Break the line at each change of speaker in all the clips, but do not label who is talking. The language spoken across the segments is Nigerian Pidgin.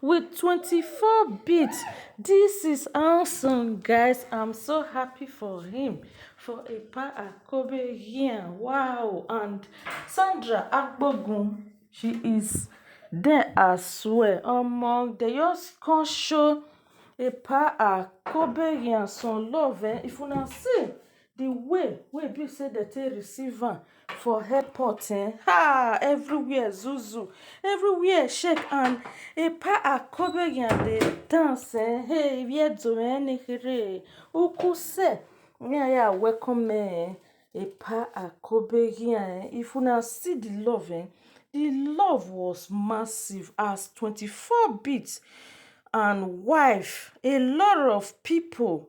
with twenty four beat this is awesome guys i'm so happy for him for Epa Akobe here wow and Sandra Agbogun she is there as well omo they just come show Epa Akobe here some love eh if una see the way wey e be say dem take receive am for airport eh, ha! Everywhere zuzu, everywhere shake and Epa Akobeyan dey dance eh, hey! Where Joanne Kerere Uku say me I ya welcome eh, Epa Akobeyan eh. If una see the love eh, the love was massive as twenty four beats and wife, a lot of people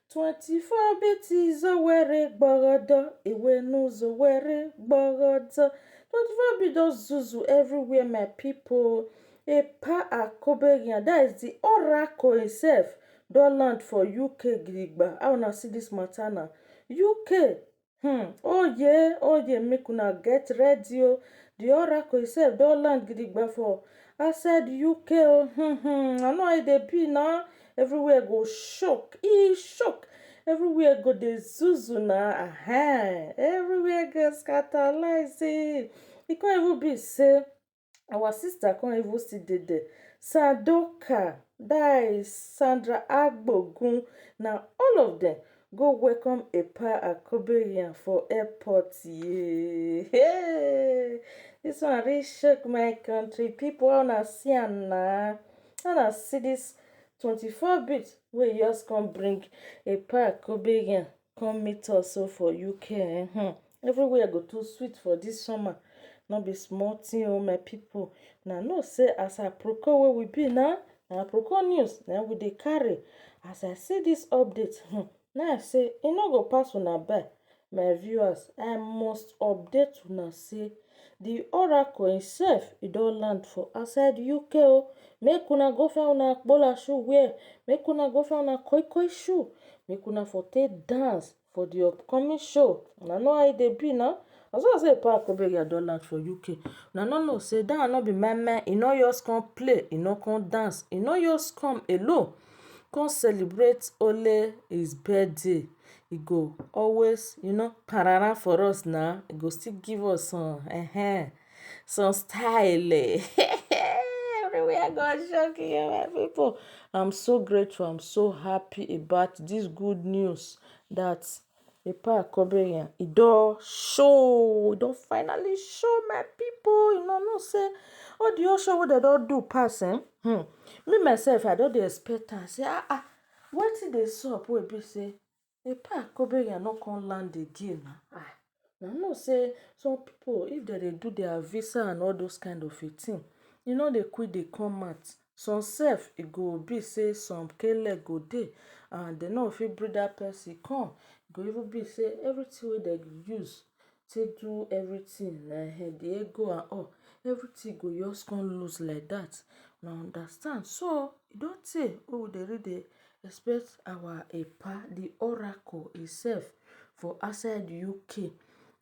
24 bits is a were gbagada, a were news a were gbagada. 24 bits don zuzu everywhere, my people. A pa Akobegyan, that is the oracle himself, don land for UK gidigba. How una see this matter now? UK Hmm, oye, oye, make una get ready o. The oracle itself don land gidigba for outside UK o. Hmm, hmm, I know how e dey be na. Everywhere go shock, e shock. Everywhere go dey zuzu na. Ahem, everywhere go scatterlize. E come even be say our sister come even still dey there. Sandoka, that is Sandra Agbogun na all of dem go welcome Epa Akobeyan for airport yee heyy this one really shock my country people how una see am na how una see this twenty four bit wey just come bring Epa Akobeyan Come meet us so for UK eh, hmm. everywhere go too sweet for this summer no be small thing oh my people na know say as aproko wey we be na na aproko news na we dey carry as i see this update hmm, na i say e no go pass una by my viewers i must update una say The oracle im self e don land for outside UK o, oh. make una go find una akpola shoe wear, make una go find una koi koi shoe, make una for take dance for the upcoming show, una know how e dey be na, na so I say Paul Akpobege don land for UK, una no know say that one no be meh meh, e no just come play, e no come dance, e no just come alone come celebrate only his birthday. e go always you know parara for us na, e go still give us some um some style um everywhere go shock you my pipu. I'm so grateful, I'm so happy about this good news that Epa Akobiyan e don show, e don finally show my pipu, you know sey all the whole show wey dem don do pass um me myself I don dey expect am sey um Wetin dey sup wey e be sey de park Kobenya no come land again na ah, una know sey some pipu if dem dey do dia visa and all those kind of a thing e no dey quick dey come out, some sef e go be sey some k-leg go dey and dem no go fit bring dat pesin come, e go even be sey everything wey dem use take do everything like um the ego and all, everything go just come loose like that. Una understand? So, e don tey wey we dey read the expect our Epa, the Oracle itself for outside UK.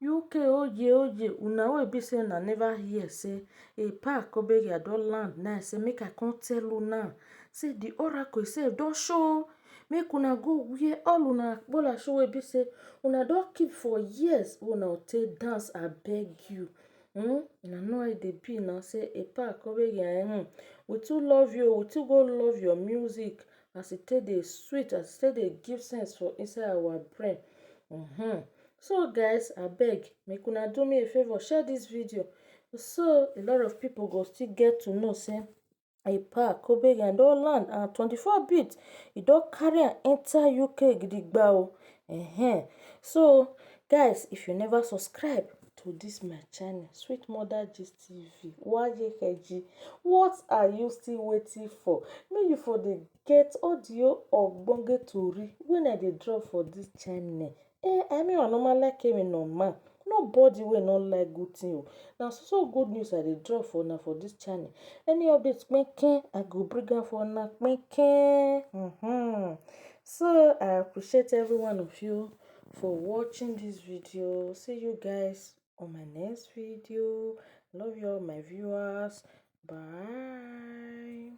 UK oye oye, una wey e be sey una never hear sey Epa Kobegei don land now sey make I come tell una sey the Oracle itself don show Make una go where all una akpolasho wey be sey una don keep for years wey una take dance abeg you um una know how e dey be na sey ekpa akoregui um we too love you oo we too go love your music as e take dey sweet as e take dey give sense for inside our brain um so guys abeg make una do me a favour share dis video so a lot of people go still get to know sey Ekpa Koberian don land and 24 bid e don carry am enter UK gidigba o um so guys if you never subscribe to this my channel sweet mother gist tv wayekg what are you still waiting for make you for dey get all the ogbonge tori when i dey drop for this channel Eh I mean I normal like Amy na ma no body wey no like good thing o. Na so so good news I dey drop for una for this channel. Any update kpikpi I go bring am for una kpikpi um. So I appreciate every one of you for watching this video. See you guys on my next video. Love you all my viewers. Bye.